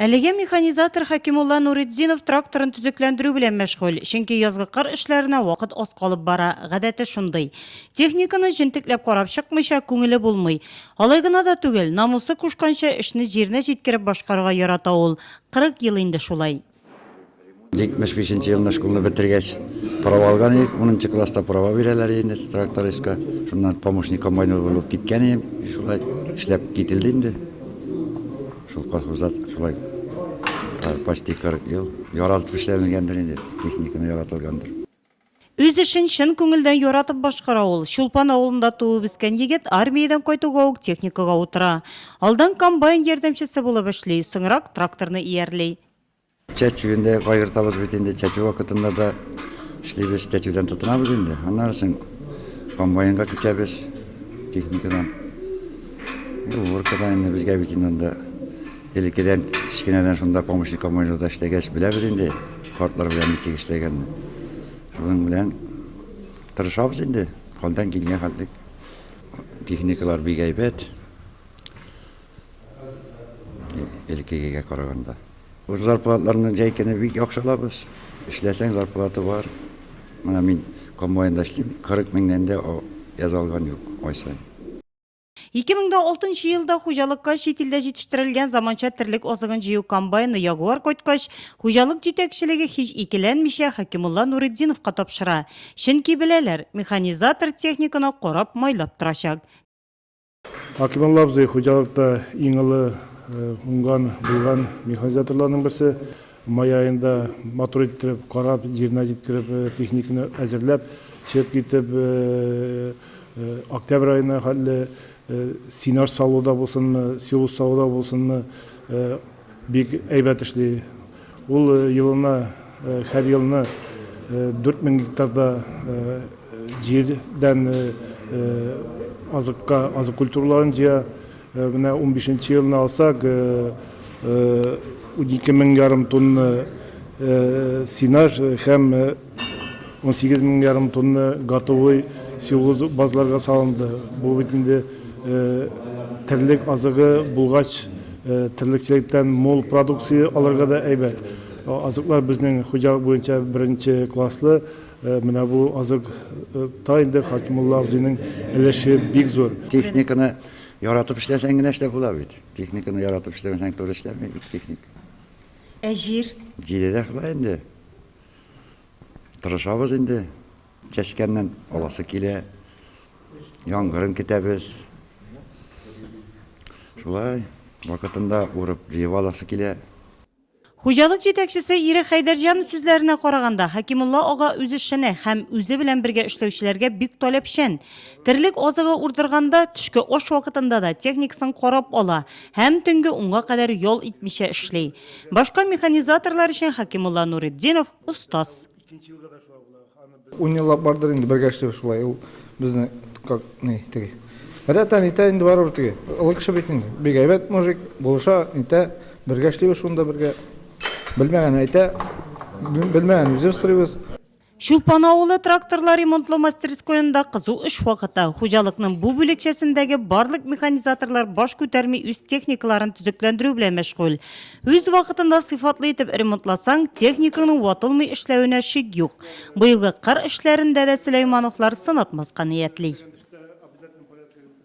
Әлегә механизатор Хәкимулла Нуретдинов тракторын төзекләндерү белән мәшгуль, чөнки язгы кыр эшләренә вакыт аз калып бара, гадәте шундый. Техниканы җентекләп карап чыкмыйча, күңеле булмый. Алай гына да түгел, намусы кушканча, эшне җиренә җиткереп башкарырга ярата ул. Кырык ел инде шулай. Җитмеш бишенче елны школны бетергәч, права алган идек. Унынчы класста права бирәләр инде трактористка. Шуннан помощник комбайнер булып киткән идем. Шулай эшләп кителде инде. Шул колхозда шулай почти 40 ел яралып эшләнгәндер инде, техниканы яратылгандыр. Үз эшен чын күңелдән яратып башкара ул. Чулпан авылында туып-үскән егет армиядән кайтуга ук техникага утыра. Алдан комбайн ярдәмчесе булып эшли, соңрак тракторны иярли. Чәчүен дә кайгыртабыз бит инде, чәчү вакытында да эшлибез, чәчүдән тотынабыз инде. Аннары соң комбайнга күчәбез техникадан. И уборка да инде безгә бит инде анда. Элеккедән, кечкенәдән шунда помощник коммунерда эшләгәч, беләбез инде, картлар белән ничек эшләгәнне. Шуның белән тырышабыз инде, калдан килгән хәтлек. Техникалар бик әйбәт. Элеккегә караганда. Үз зарплатларны җәй көне бик яхшы алабыз. Эшләсәң, зарплата бар. Менә мин комбайнда эшлим, 40 меңнән дә яза алган юк ай саен. 2006 нчы елда хуҗалыкка чит илдә җитештерелгән заманча терлек азыгын җыю комбайны Ягуар кайткач, хуҗалык җитәкчелеге һич икеләнмичә Хәкимулла Нуретдиновка тапшыра. Чөнки беләләр, механизатор техниканы карап, майлап торачак. Хәкимулла абзый хуҗалыкта иң олы уңган, булган механизаторларның берсе. Май аенда матур иттереп карап, җиренә җиткереп, техниканы әзерләп, чеп китеп, октябрь аена хәтле сенаж салуда булсынмы, силус салуда булсынмы, бик әйбәт эшли. Ул елына, һәр елны 4000 гектарда җирдән азыкка азык культураларын җыя. Менә унбишенче елны алсак, унике мең ярым тонна сенаж һәм унсигез мең ярым тонна готовой силоз базларга салынды. Бу бит инде терлек азыгы булгач, терлекчелектән мул продукция алырга да әйбәт. Азыклар безнең хуҗалык буенча беренче класслы. Менә бу азык та инде Хәкимулла абзыйның өлеше бик зур. Техниканы Яратып эшләсәң генә эшләп була бит. Техниканы яратып эшләмәсәң туры эшләмәй бит техник. Ә җир? Җире дә шулай инде. Тырышабыз инде. Чәчкәннән аласы килә. Яңгырын көтәбез. Шулай вакытында урып җыеп аласы килә. Хуҗалык җитәкчесе ире Хәйдәрҗан сүзләренә караганда, Хәкимулла ага үзешчәне һәм үзе белән бергә эшләүчеләргә бик таләпчән. Терлек азыгы урдырганда, төшке аш вакытында да техникасын карап ала һәм төнге унга кадәр ял итмичә эшли. Башка механизаторлар өчен Хәкимулла Нуретдинов, остаз. Икенче елга да шулай була. Аны без Ун еллап бардыр инде бергә эшлибез шулай. Ул безне как ни теге. Рәтә нитә инде барыбер теге. Олы кеше бит инде. Бик әйбәт мужик, булыша, нитә. Бергә эшлибез шунда бергә. Белмәгән әйтә, бел- белмәгән үзе сорыйбыз. Чулпан авылы тракторлар ремонтлау мастерскоенда кызу эш вакыты. Хуҗалыкның бу бүлекчәсендәге барлык механизаторлар баш күтәрми үз техникаларын төзекләндерү белән мәшгуль. Үз вакытында сыйфатлы итеп ремонтласаң, техниканың ватылмый эшләвенә шик юк. Быелгы кыр эшләрендә дә Сөләймановлар сынатмаска ниятли.